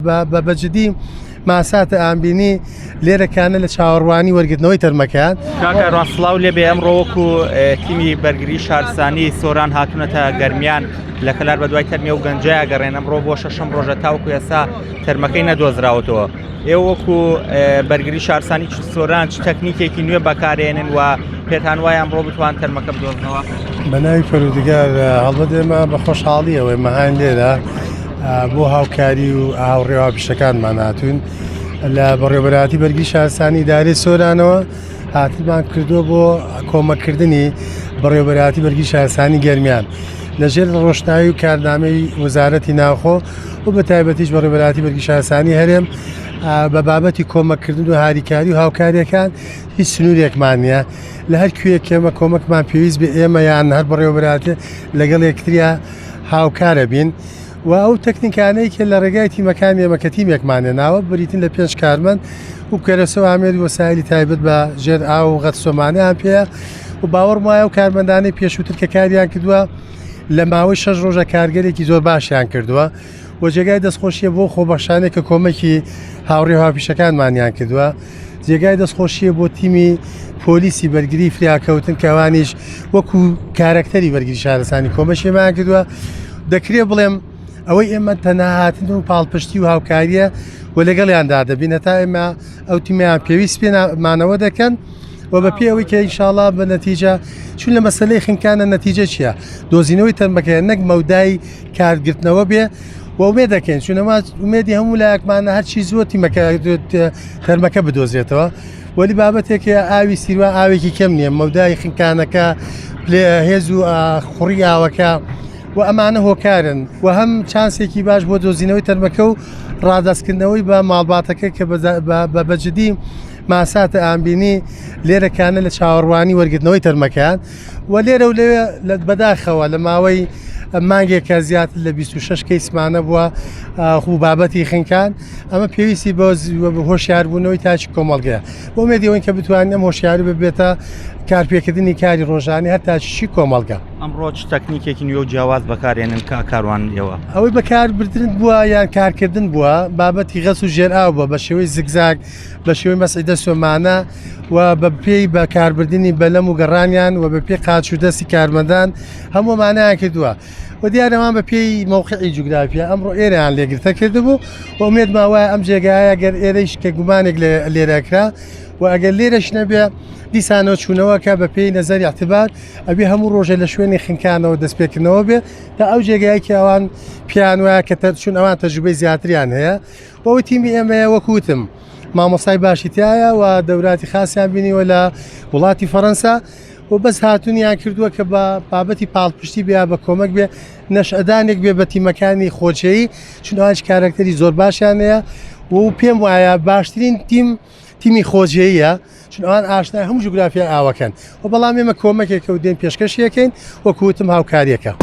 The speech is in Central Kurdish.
بە بە جدی ماساتە ئامبینی لێرەکانە لە چاوەڕوانی وەرگرتنەوەی تەرمەکان کاکە ڕاستڵاو لێ بێ ئەم ڕۆوەکو تیمی بەرگری شارسانی سۆران هاتوونەتە گەرمیان لە کەلار بە دوای تەرمی و گەنجای گەڕێن ئەم ڕۆ بۆ شەشم ڕۆژە تاوکو ئێستا تەرمەکەی نەدۆزراوەتەوە ئێوەکو بەرگری شارسانی سۆران چ تەکنیکێکی نوێ بەکارێنن و پێتان وایە ئەمڕۆ بتوان تەرمەکە بدۆزنەوە بە ناوی پەرودگار هەڵبەت ئێمە بە خۆشحاڵیەوەی مەهان لێرە بۆ هاوکاری و هاوڕێ هاوپیشەکانمان هاتوون لە بەڕێبەراتی بەرگی شارسانی دارێ سۆرانەوە هاتمان کردووە بۆ کۆمەکردنی بەڕێبەراتی بەرگی شارسانی گەرمیان لەژێر ڕۆشنایی و کارنامەی وەزارەتی ناوخۆ و بە تایبەتیش بەڕێبەراتی بەرگی شارسانی هەرێم بە بابەتی کۆمەکردن و هاریکاری و هاوکاریەکان هیچ سنوورێکمان نییە لە هەر کوێ کێمە کۆمەکمان پێویست بە ئێمە یان هەر بەڕێوەبراتێ لەگەڵ یەکتریا هاوکارە بین و ئەو تەکنیکانەی کە لە ڕێگای تیمەکانی ئێمە کە تیمێکمان هێناوە بریتین لە پێنج کارمەند و کەرەسە و ئامێری وەسایلی تایبەت بە ژێر ئاو و غەتسۆمانەیان پێەیە و باوەڕم وایە و کارمەندانەی پێشووتر کە کاریان کردووە لە ماوەی شەش ڕۆژە کارگەرێکی زۆر باشیان کردووە و جێگای دەستخۆشیە بۆ خۆبەخشانێک کە کۆمەکی هاوڕێ هاوپیشەکانمانیان کردووە جێگای دەستخۆشیە بۆ تیمی پۆلیسی بەرگری فریاکەوتن کەوانیش وەکو کارەکتەری بەرگری شارستانی کۆمەشیمان کردووە دەکرێ بڵێم ئەوەی ئێمە تەناهاتن و پاڵپشتی و هاوکاریە و لەگەڵیاندا دەبینە تا ئێمە ئەو تیمیان پێویست پێمانەوە دەکەن و بە پێ ئەوەی کە ئیشاڵا بە نەتیجە چون لە مەسلەی خنکانە نەتیجە چیە دۆزینەوەی تەرمەکەیان نەک مەودای کارگرتنەوە بێ ومێ دەکەین چونەما ومێدی هەموو لایەکمانە هەرچی زۆر تیمەکە تەرمەکە بدۆزێتەوە وەلی بابەتێکی ئاوی سیروان ئاوێکی کەم نییە مەودای خنکانەکە پلێ هێز و خوڕی ئاوەکە و ئەمانە هۆکارن و هەم چانسێکی باش بۆ دۆزینەوەی تەرمەکە و ڕادستکردنەوەی بە ماڵباتەکە کە بە بەجددی ماساتە ئامبینی لێرەکانە لە چاوەڕوانی وەرگرتنەوەی تەرمەکان و لێرە و لەوێ بەداخەوە لە ماوەی مانگێکە زیاتر لە 26 کەیسمانە بووە خو بابەتی خنکان ئەمە پێویستی بۆ هۆشیاربوونەوەی تاچی کۆمەڵگەیە بۆ مێدیەوەین کە بتوانین ئەم هۆشیاری ببێتە کارپێکردنی کاری ڕۆژانی هەر تاچی کۆمەڵگە ئەمڕۆ تەکنیکێکی نوێ و جیاواز بەکارێنن کا کاروان ئێوە ئەوەی بەکاربردن بووە یان کارکردن بووە بابەتی غەس و ژێر ئاو بە بە شێوەی زگزاک بە شێوەی مەسعیدە سۆمانە و بە پێی بە کاربردننی بەلەم و گەڕانیان و بە پێ قاچ و دەستی کارمەدان هەموو مانایان کردووە و دیارەوان بە پێی مەوقعی جوگرافیا ئەمڕۆ ئێرەیان لێگرتە کردبوو و ئومێد ماوای ئەم جێگایە گەر ئێرەیش کە گومانێک لێرەکرا و ئەگەر لێرەش نەبێ دیسانەوە چوونەوەکە بە پێی نەزەری اعتبار ئەبێ هەموو ڕۆژێ لە شوێنی خنکانەوە دەستپێکردنەوە بێ تا ئەو جێگایەکی ئەوان پیان وایە کە تەرچون ئەوان تەجوبەی زیاتریان هەیە بۆ تیمی ئێمەیە وەکوتم مامۆستای باشی تایە و دەوراتی خاصیان بینیوە لە وڵاتی فەەنسا و بەس هاتونیان کردووە کە بە بابەتی پاڵپشتی بیا بە کۆمەک بێ نەشئدانێک بێ بە تیمەکانی خۆچەیی چونهاج کارکتەری زۆر باشیانەیە و پێم وایە باشترین تیم تیمی خۆجێیە چون ئەوان ئاشنای هەموو جوگرافیای ئاوەکەن و بەڵام ئێمە کۆمەکێکە و دێن پێشکەشیەکەین وەکوتم هاوکاریەکە.